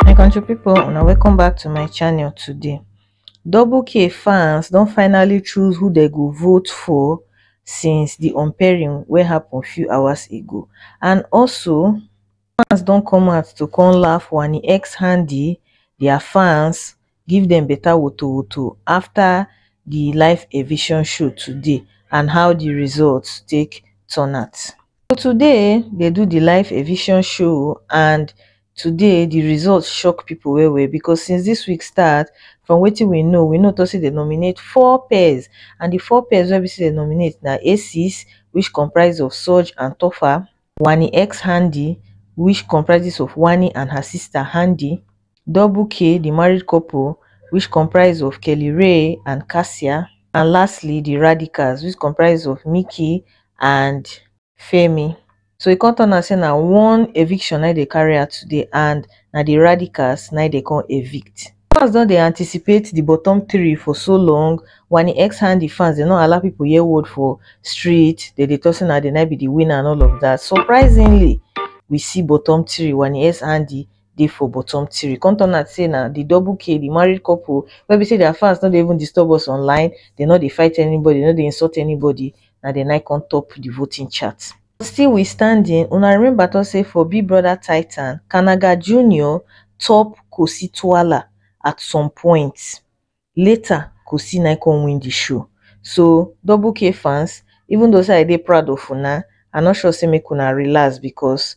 my country people una welcome back to my channel today double k fans don finally choose who they go vote for since the unpairing wey happen few hours ago and also fans don come out to come laugh wani x handy their fans give dem better wotowoto after the live eviction show today and how the results take turn out. So today um they do the live eviction show and today the results shock people well well because since this week start from wetin we know we know talk say they nominate four pairs and the four pairs wey be say they nominate na Aces which comprise of Surge and Topher Wanni X Handi, which comprises of Wanni and her sister Handi, Double K, the married couple, which comprise of Kelly Rae and Cassia, and lastly the Radicals, which comprise of Mickey and Femi. So e come turn out say na one eviction na dey carry out today and na the Radicals na dey come evict. Fans don dey anticipate di bottom three for so long, Wani X hand di fans dem no allow pipo hear word for street, dem dey talk say na dem na be di winner and all of dat. Surprisingly, we see bottom three, Wani X and Andy dey for bottom three, come turn out say na di double K, di married couple wey be say dia fans no dey even disturb us online, dem no dey fight anybody, dem no dey insult anybody, na dem na im come top di voting chart. Still we standing, una remember talk say for big brother titan, kanaga junior top kosi twala at some point, later kosi na him come win the show, so double k fans even though say i dey proud of una, i no sure say make una relax because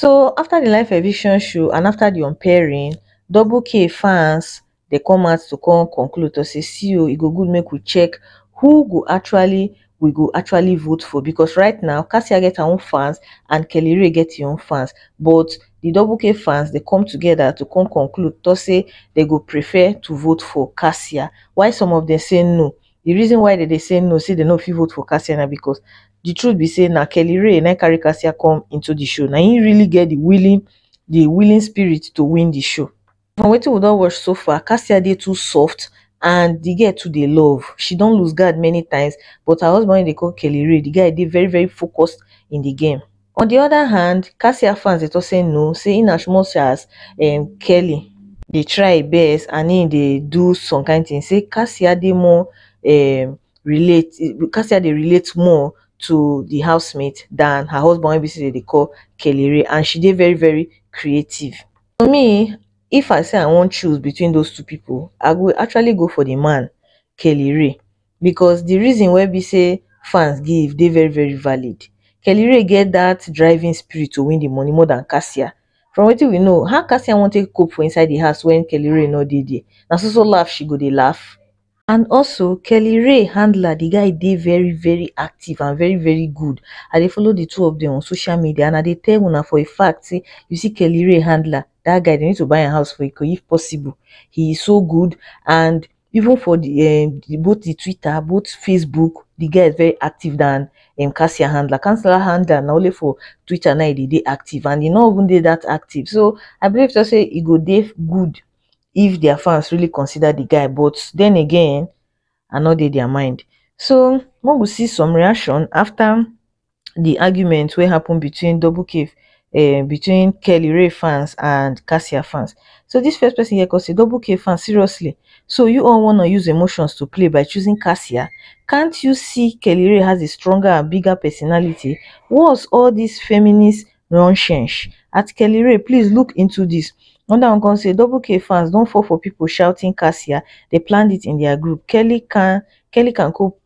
so afta di live eviction show and afta di unpairing double kay fans dey come out to come conclude to say see o e go good make we check who go actually we go actually vote for because right now cassia get her own fans and kelly ray get im own fans but di double kay fans dey come togeda to come conclude to say dem go prefer to vote for cassia while some of dem say no The reason why dem dey say no say dem no fit vote for Cassia na because the truth be say na Kelly Ray na carry Cassia come into the show. Na him really get the willing the willing spirit to win the show. From wetin we don watch so far, Cassia dey too soft and the girl too dey love. She don lose guard many times but her husband wey dey call Kelly Ray, the guy dey very very focused in the game. on di oda hand cassia fans dey tok say no say in as much as um kelly dey try e best and im dey do some kain tins say cassia dey more um relate cassia dey relate more to di housemate dan her husband wey be say dem dey call kelly ray and she dey very very creative. For me if I say I wan choose between those two pipu I go actually go for di man, kelly ray. because di reason wey be sey fans give dey very very valid. Kellyrae get dat driving spirit to win di money more dan Cassia, from wetin we know how Cassia wan take cope for inside di house wen Kellyrae no dey there, na so so laugh she go dey laugh? And also Kellyrae handler di guy dey very very active and very very good, I dey follow di two of dem on social media and I dey tell una for a fact sey you see Kellyrae handler dat guy dem need to buy am house for Ikoyi if possible, he is so good and. even for the um the both the Twitter, both Facebook, the guy is very active than um Cassia handler. Cassia handler na only for Twitter now they dey active and he no even dey that active. So I believe to say he go dey good if their fans really consider the guy. But then again, I no dey their mind. So we go see some reaction after di argument wey happen between double caf um between kelly rae fans and cassia fans so dis first pesin here kon sey double caf fans seriously so u all wanna use emotions to play by choosing cassia cant u see kelly rae has a stronger and bigger personality what's all dis feminist nonsense at kelly rae please look into dis anoda one kon sey double caf fans don fall for pipo shouting cassia dey planned it in their group kelly can kelly can cope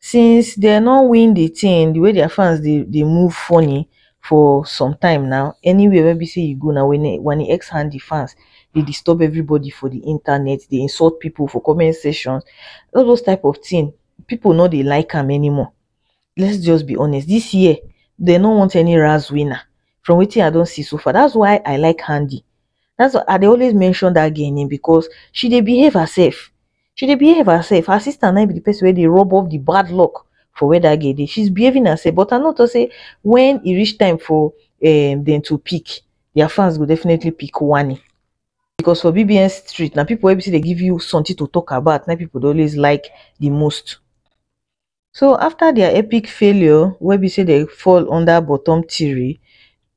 since dey no win the thing the way their fans dey dey move funny for some time now anywhere wey be say you go now wanniex hand the fans dey disturb everybody for the internet dey insult people for comment section all those type of thing people no dey like am anymore let's just be honest this year they no want any Raz winner from wetin I don see so far that's why I like Handi that's why I dey always mention that girl name because she dey behave herself she dey behave herself her sister na im be the person wey dey rub off the bad luck for where that girl dey she's behaving herself but I know to say when e reach time for um them to pick their fans go definitely pick Wani because for BBN street na people wey be say dey give you something to talk about na people dey always like the most. so after dia epic failure wey be say dem fall under bottom three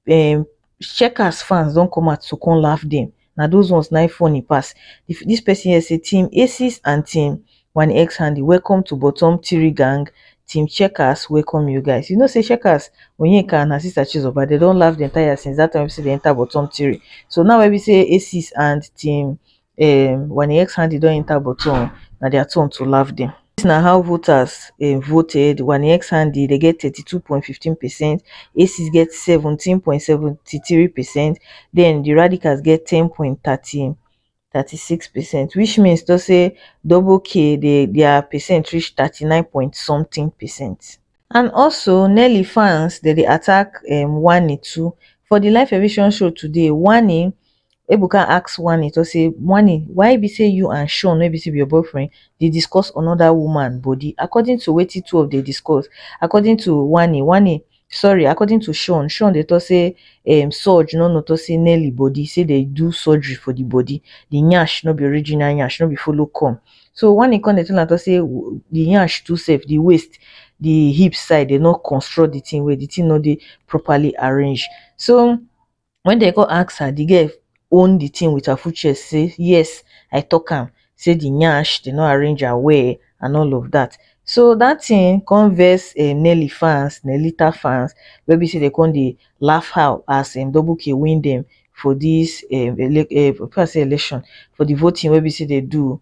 um checkers fans don come out to come laugh dem na those ones na im funny pass dis person here say team aces and team wanixhandy welcome to bottom three gang team checkers welcome you guys you know say checkers onyeka and her sister chizoba dem don laugh dem tire since that time wey be say dem enter bottom three so now wey be say aces and team um wen im ex-handy don enta bottle um na dia turn to laugh dem. Dis na how voters um voted, wen im ex-handy dey get thirty two point fifteen percent, Aces get seventeen point seventy three percent, den di Radicals get ten point thirty thirty six percent which means to say double K dey dia percent reach thirty nine point sometin percent. And also Nelly fans dem dey attack um Wanni too, for di live eviction show today, Wanni Ebuka ask Wanni to say, Wanni, why be say you and Sean wey be say be your boyfriend dey discuss another woman body? According to wetin two of dey discuss, according to Wanni, Wanni, sorry, according to Sean, Sean dey talk say um Surge no know to say Nelly body, say dey do surgery for the body. The nyash no be original nyash, no be follow come. So Wanni come dey tell am to say w- the nyash too sef, the waist, the hip side, they no construct the thing well, the thing no dey properly arranged. So When dem come ask her, the girl own the thing with her full chest say, yes, I talk am, say the nyash, they no arrange her well and all of that. So that thing come vex um, Nelly fans, Nellita fans, where we say they come they laugh how as um, Double K win them for this um, ele- uh, say election, for the voting where we say they do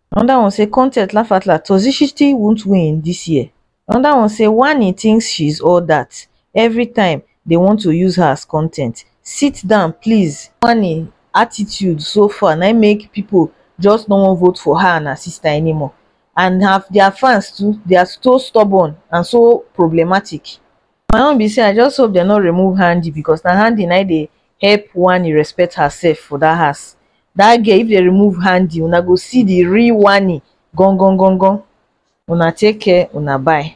Another one say content laugh out loud Toxicity won't win this year Another one say Wanni thinks she's all that Every time they want to use her as content Sit down please Wanni attitude so far na im make people just no wan vote for her and her sister anymore and her their fans too they are so stubborn and so problematic. my own be say i just hope dey no remove handi because na handi na im dey help wanni respect herself for dat house dat girl if dey remove handi una go see the real wanni gan gan gan gan una take care una bye